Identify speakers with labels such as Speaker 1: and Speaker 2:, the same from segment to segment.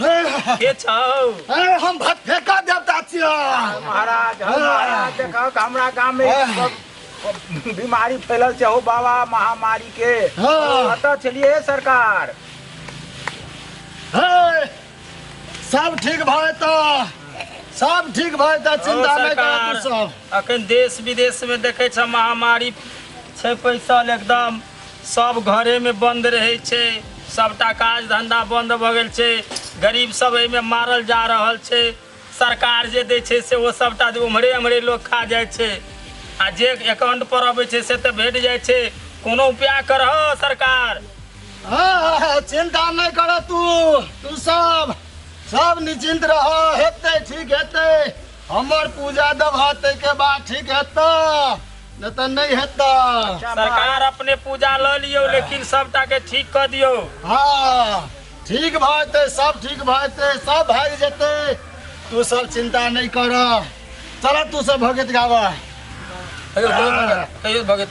Speaker 1: के छौ अरे हम भत फेंका देवता छियो महाराज हौ महाराज देखौ कि हमरा गाम में आह। सब बीमारी फैलल छै हो बाबा महामारी के हाँ। कतऽ छलियै हे सरकार हे, सब ठीक भए तो सब ठीक भए तो चिंता नहीं कर तू सब अखन देश विदेश में देखै छ महामारी छै पैसल एकदम सब घरेमे बन्द रहै छै सबटा काज धन्धा बन्द भऽ गेल छै गरीब सब एहिमे मारल जा रहल छै सरकार जे दै छै से ओ सबटा ओम्हरे ओम्हरे लोक खा जाइ छै आ जे एकाउंट पर अबै छै से तऽ भेट जाइ छै कोनो उपाय करह सरकार हाँ, चिंता नहीं कर तू तू सब सब निश्चिंत रह हेते ठीक हेते हमर पूजा दब हेते के बाद ठीक हेता नहि तऽ नहि हेतै सरकार अपने पूजा लऽ लियौ लेकिन सबटा के ठीक कऽ दियौ हाँ ठीक भऽ जेतै सब ठीक भऽ जेतै सब भागि जेतै तू सब चिंता नहि कर चल तू सब भगत गाबऽ कहियो भगत कहियो भगत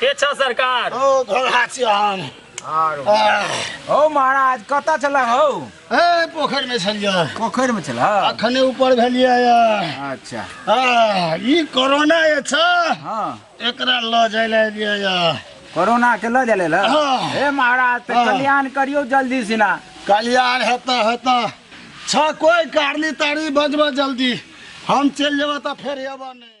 Speaker 1: के छ सरकार ओ घोड़ा छी हम आरो आह, हौ महाराज कतऽ छलऽ हौ ए पोखरि में छलियै पोखरिमे छलऽ अखने ऊपर भेलियै यऽ। अच्छा आह, ई कोरोना जे छ हँ एकरा लऽ जाय लए एलियै यऽ। कोरोना के लऽ जाले लऽ हँ। हे महाराज तऽ हँ। कल्याण करियौ जल्दी सिना कल्याण हेतऽ हेतऽ छ कोइ कारली तारी बजबऽ जल्दी हम चलि जेबऽ तऽ फेर एबऽ नहि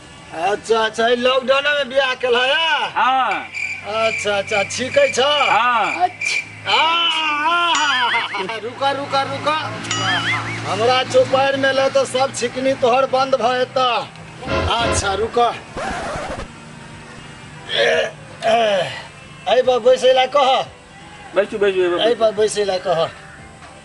Speaker 1: अच्छा अच्छा ई लॉकडाउन में बियाह कल है या? हाँ अच्छा अच्छा ठीक है छ हाँ आ, आ, आ, रुका रुका रुका हमरा चौपार में ल तो सब छिकनी तोहर बंद भ एता अच्छा रुका ऐ पर बैसे ला कह बैठू बैठू ऐ पर बैसे ला कह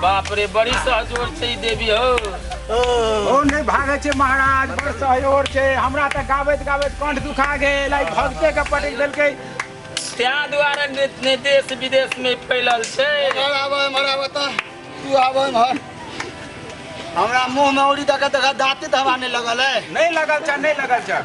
Speaker 1: बाप रे बड़ी सहजोर छै ई देवी हो ओ नहि भागै छै महाराज बड़ सहयोग छै हमरा तऽ गाबैत गाबैत कंठ दुखा गेल आइ भगते के पटक देलकै तैं दुआरे ने ने देश विदेश में फैलल छै एमहर आबऽ एमहर आबऽ तऽ तू आबऽ एमहर हमरा मुँहमे औरी दऽ कऽ देखा दाँते तऽ हवा नहि लगल है नहि लगल छ नहि लगल छ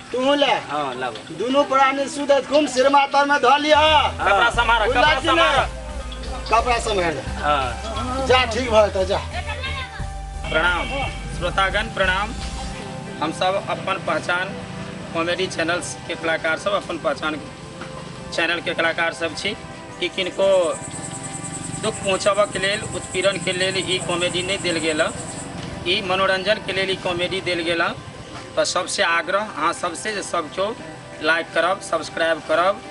Speaker 1: तू ले हां लाबो दोनों प्राणी सुध घूम सिरमा तर में धऽ लिया कपड़ा संभार कपड़ा संभार कपड़ा संभार हां जा ठीक भऽ त जा प्रणाम श्रोतागण प्रणाम हम सब अपन पहचान कॉमेडी चैनल के कलाकार सब अपन पहचान चैनल के कलाकार सब छी कि किनको दुख पहुँचबऽ के लेल उत्पीड़न के लेल ई कॉमेडी नहीं दिल गेल ई मनोरंजन के लेल ई कॉमेडी दिल गेल तऽ सबसे आग्रह अहाँ सबसे जे सब केओ लाइक करब सब्सक्राइब करब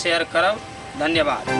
Speaker 1: शेयर करब धन्यवाद